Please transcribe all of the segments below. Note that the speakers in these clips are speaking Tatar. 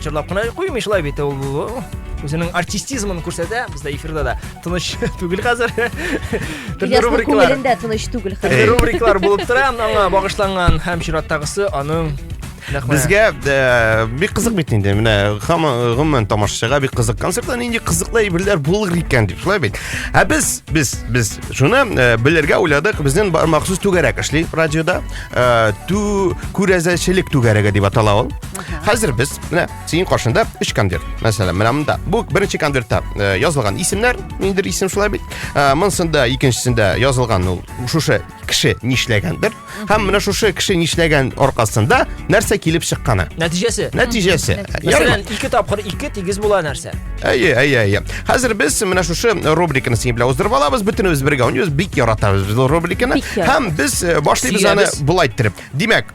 Чырлап кына куймый шулай бит ул үзенең артистизмын күрсәтә бездә эфирда да тыныч түгел хәзер төрле рубрикалар күңелендә тыныч түгел хәзер рубрикалар булып тора аңа багышланган һәм чираттагысы аның Безгә э, бик кызык бит инде. Менә гомумән тамашачыга бик кызык концерттан нинди кызыклы әйберләр булыр икән дип шулай бит. Ә без без без шуны э, белергә уйладык. Безнең махсус түгәрәк эшли радиода. Э, ту күрәзәчелек түгәрәге дип атала ул. Хәзер без менә синең каршында өч конверт. Мәсәлән, менә монда. Бу беренче конвертта э, язылган исемнәр, ниндидер исем шулай бит. Э, монсында икенчесендә язылган ул шушы кеше нишләгәндер. Һәм менә шушы кеше нишләгән аркасында нәрсә килеп чыкканы. Нәтиҗәсе. Нәтиҗәсе. Мәсәлән, ике тапкыр ике тигез була нәрсә? Әйе, әйе, әйе. Хәзер без менә шушы рубриканы синең белән уздырып алабыз. Бөтенебез бергә уйныйбыз. Бик яратабыз рубриканы. Һәм без э, башлыйбыз аны булай иттереп. Димәк,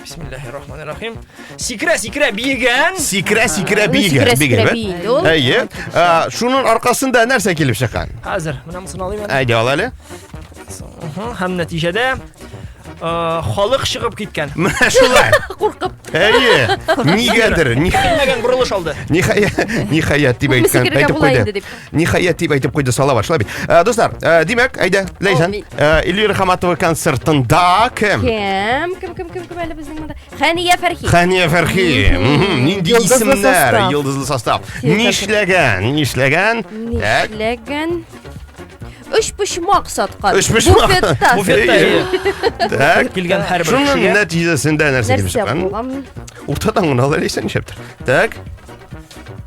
Бисмиллахи рахмани рахим. Сикрә, сикрә биегән. Сикрә, сикрә биегән. Биегән. Әйе. Шуның аркасында нәрсә килеп чыккан? Хәзер менә моны алыйм. Әйдә ал әле. Һәм нәтиҗәдә халык чыгып киткән. Менә шулай. Куркып. Әйе. Нигәдер. Нигәдер бурылыш алды. Нихая, нихая дип әйткән, әйтеп куйды. Ниһаять дип әйтеп куйды Салават, шулай бит. Ә, э, Дуслар, ә, э, димәк, әйдә, Ләйсән, Ул э, Эльвира Хаматова концертында кем? Кем? Кем, кем, кем, кем әле безнең монда? Хәния Фәрхи. Хәния Фәрхи. Мгм, Нинди Йолдызлы исемнәр? состав. Йолдызлы состав. Нишләгән? Нишләгән? Так. Нишләгән? Өч почмак саткан. Өч почмак. Буфетта. Буфетта. Так. Килгән һәрбер Шуның кешегә. нәтиҗәсендә нәрсә килеп Нәрсә чыккан? булган? Уртадан гына алар исән нишләптер. Так.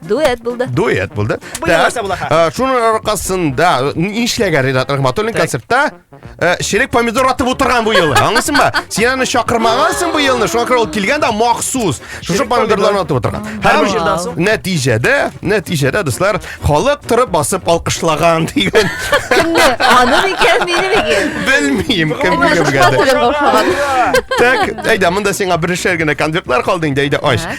Дуэт булды. Дуэт булды. Э, Шуның аркасында нишләгән Ринат Рахматуллин концертта э, черек помидор атып утырган бу елы. Аңлыйсың ба? Син аны чакырмагансың бу елны, шуңа күрә ул килгән дә махсус. Шушы помидорларны атып утырган. Һәм нәтиҗәдә, нәтиҗәдә дуслар, халык торып басып алкышлаган дигән. Кемне? Аны микән, мине микән? Белмим, кем кем Так, әйдә, монда сиңа берешер генә конвертлар калды инде, әйдә, ач.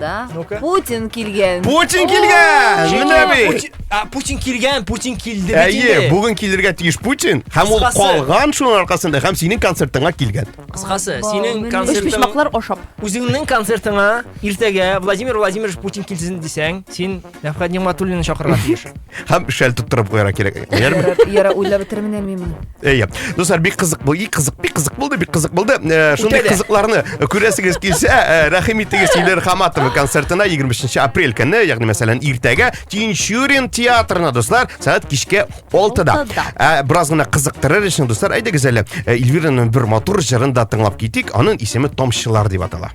Да. Ну-ка. Путин килгән. Путин килгән! Менә бит! А, Путин килгән, Путин килде бит Әйе, инде. бүген килергә тиеш Путин, һәм ул Кыскасы. калган шуның аркасында, һәм синең концертыңа килгән. Кыскасы, Вау, синең менә. Өч концертың почмаклар ашап. үзеңнең концертыңа иртәгә Владимир Владимирович Путин килсен дисәң, син Нәфхәт Нигматуллинны чакырырга тиеш. Һәм шәл тоттырып куярга кирәк. Ярар, яра уйлап бетермин мин моны. Әйе. Дуслар, бик кызык бу, бик кызык, бик кызык булды, бик кызык булды. Э, Шундый Үтәлә. кызыкларны күрәсегез килсә, э, рәхим итегез Илер Хаматова концертына 23 апрель көнне, ягъни мәсәлән, иртәгә Тинчурин театрына, дуслар, сәгать кичке 6-да. Алтыда. Ә, бераз гына кызыктырыр өчен, дуслар, әйдәгез әле э, Эльвираның бер матур җырын да тыңлап китик. Аның исеме Томчылар дип атала.